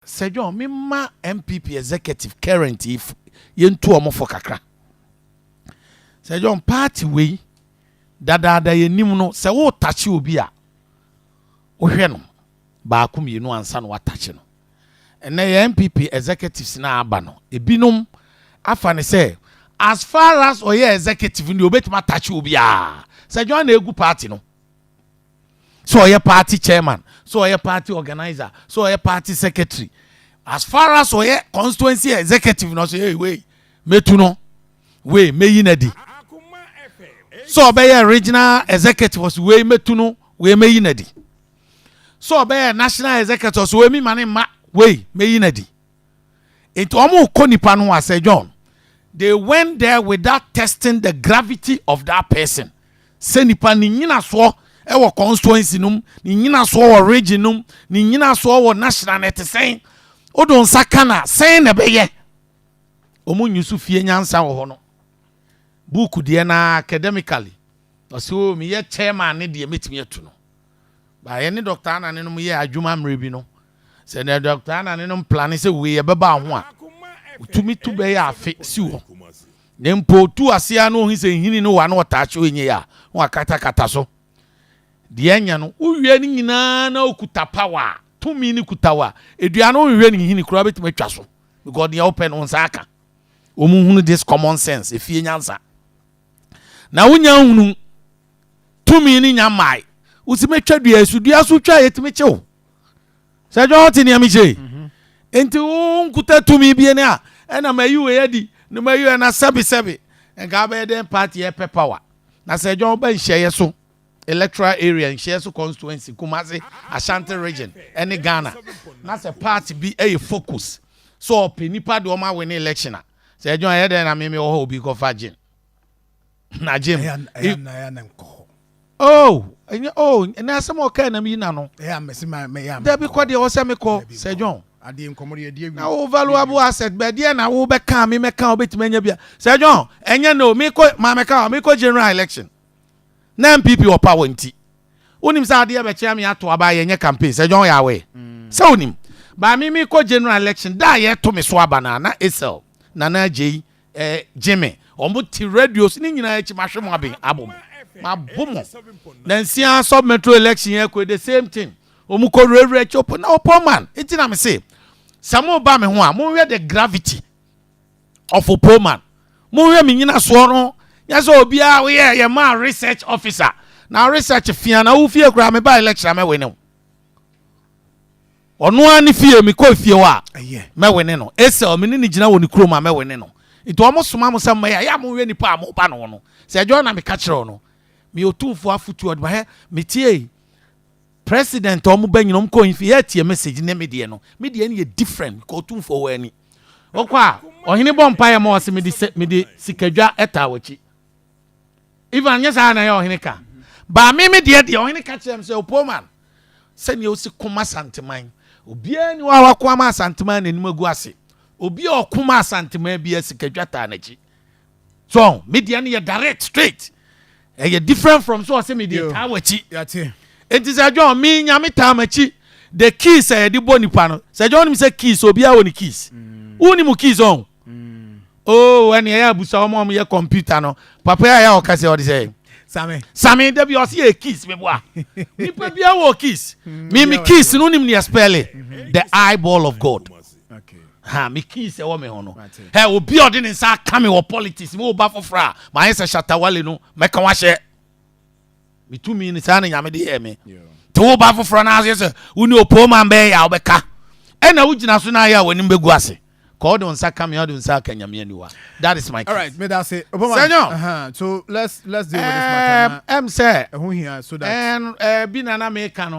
Sir John, me mma NPP executive current yi fo, yɛntu wɔn fo kakra. Sir John, party wei, dadaada yɛnim no, sɛ woretakye obi a, wohwɛ no baako mmienu ansa na woatakye no. Ɛnnɛ yɛn NPP executives no a aba no, ebinom afa no sɛ, as far as ɔyɛ executive no deɛ, ɔbɛtumi atakye obiara. Sir John na ɛregu party no. sɛ ɔyɛ party chairman sɛ ɔyɛ party organizer sɛ ɔyɛ party secretary as far as ɔyɛ constituency executive na ɔsɛ hey wei mɛtu no wei mɛyi no adi sɛ ɔbɛyɛ regional executive ɔsɛ wei mɛtu no wei mɛyi no adi sɛ ɔbɛyɛ national executive ɔsɛ wei mi ma ne mma wei mɛyi no adi Enti wɔkɔ nnipa no ho a, Sir John, they went there without testing the gravity of that person. Sɛ nnipa ne nyinasoɔ wɔ constituency no mu, ne nyinasoɔ wɔ region no mu, ne nyinasoɔ wɔ national no ɛte sɛn, wodo nsa ka no a, sɛn na ɛbɛyɛ? Wɔn nyi so fie nyansa wɔ hɔ no. Book deɛ no ara academically, ɔse o meyɛ chairman ne deɛ mɛtumi atu no. But yɛne Doctor Anane nom yɛɛ adwuma mmerɛ bi no, sɛ nea Doctor Anane nom plane sɛ wei ɛbɛba ho a, ɔtumi tu bɛyɛ afe si hɔ. Na mpo ɔtu aseɛ ara na ɔhu sɛ nhini no wɔ a na ɔtaa kye ɔnyɛ yɛ a na wakatakata so deɛ ɛnyɛ no. Wowie ne nyinaa na ɔkuta power a, tumi no kuta wo a, ɛdua no wonhwɛ ne nhini koraa wobɛtumi atwa so because deɛ wopɛ no wo nsa aka. Wɔnhunu this common sense, ɛfie nyansa na wonya nhunu. tumi no nya mmae wosi mɛtwa dua so dua so twa yɛtumi kyew sɛ dwa ɔte nea mekyerɛ yi mhm. nti wo nkuta tumi bie ne a ɛna mayi wei adi ne mayi wei na sɛbesɛbe nka abɛyɛ dɛn party yɛpɛ power na sɛ dwa woba nhyɛeɛ so electoral area nhyɛeɛ so constituency kumase ashanti region ɛne ghana na sɛ party bi ɛyɛ focus so ɔpɛ nipa de ɔma win election a sɛ dwa ɛyɛ dɛn na meme wɔ hɔ obi kɔfa gyen Na gye m. Ɛyɛ na ɛyɛ na nkɔ hɔ. Oh ɛnyɛ oh ɛnɛ asɛm a ɔkae nam yi na no. Ɛyɛ a mɛsi ma mɛyɛ ama. Dabi kɔ deɛ ɔsɛ mekɔ Sir John. Adeɛ nkɔmɔ deɛ ɛdeɛ wi. Na wo valuable asset bɛ deɛ na wo bɛ ka me mɛ ka ɔbɛtumi anya bia Sir John ɛnyɛ no mekɔ ma mɛ ka mekɔ general election na NPP wɔ power nti wonim sɛ adeɛ bɛ kyea me ato aba yɛ nyɛ campaign Sir John yɛ aware sɛ wonim ba me mekɔ general election da a yɛ to me so aba na na Esel Nana Agyei Eh gyimi ɔmo te radio so ne nyinaa akyi mahwɛ mo aben abo mo mabo mo na nsia sub metro election yɛ kɔ the same thing ɔmo kɔ wurawura akyi ɔpɔ na ɔpɔ man eti na me se sɛ mo ba me ho a mo hwɛ the gravity of ɔpɔ man mo hwɛ me nyina soɔ no nyɛ sɛ obiara woyɛ yɛ maa research officer na research fia na wo fie koraa me ba election a mɛwe ne wo Ɔno ara ne fie, mekɔ efie hɔ a, mɛwene no. Esau, me ne no gyina wɔ ne kurom a, mɛwene no. Enti wɔsoma mo sɛ mommɛyɛ a, yɛ a monhwɛ nnipa a moreba ne ho no. Sɛ ɛdwoɔ na meka kyerɛ wo no, meyɛ Otumfoɔ afotuo ɔde ma. Hwɛ, metiee President a wɔba nyina, wɔkɔ wɔn fie, yɛ a tie message ne me deɛ no. Me deɛ no yɛ different, mekɔ Otumfoɔ hɔ ani. Wɔkɔ a, ɔhene bɔ mpaeɛ ma wɔse mede, mede sikadwa taa w'akyi. Ivan, nyɛ saa na ɛyɛ ɔhene ka. Baa me me deɛ deɛ, ɔhene ka kyerɛɛ me sɛ, Opoman, sɛdeɛ wosi ko ma Asanteman, obiara ni hɔ a wako ama Asanteman n'anim agu ase. Obi a ɔko ma Asanteman biara sikadwa taa n'akyi. So ɔho, me deɛ no yɛ direct, straight. Ɛyɛ different from sɛ ɔsɛ me deɛ taa w'akyi. Enti sɛ John, me nyame taa m'akyi. The keys a yɛde bɔ nipa no, sɛ John nim sɛ keys, obiara wɔ ne keys. Wo ni mu keys ɔho. Oh ɛne ɛyɛ abusa wɔn a wɔn yɛ computer no papa yɛ a ɔka sɛ ɔde sɛ. Sami. Sami dabi ɔsi yɛ kiss mi boa. Nipa bi awɔ kiss. Mm, mi mi kiss no nim ni ɛspɛli. Mm-hmm. The eyeball of God. Okay. Ha mi kiss ɛwɔ mi ho no. Ɛ obi ɔde ne nsa aka mi wɔ politics mi wɔ ba foforɔ a maa yɛ sɛ shatawale no mɛka wahyɛ. Me tumi no saa na Nyame de yɛɛ me. Te wo ba foforɔ no ase sɛ wo ne opooman bɛyɛ a wobɛka ɛna wogyina so no ayɛ a w'anim bɛgu ase. Kɔ wode wo nsa ka me a wode wo nsa aka Nyame aniwa. That is my case. Alright, meda ase. Opooman. Sɛnyɔ. Uh -huh. So let's let's deal with this matter. Ɛm sɛ. Ɛho hia so that. Ɛn ɛbi na na meka no.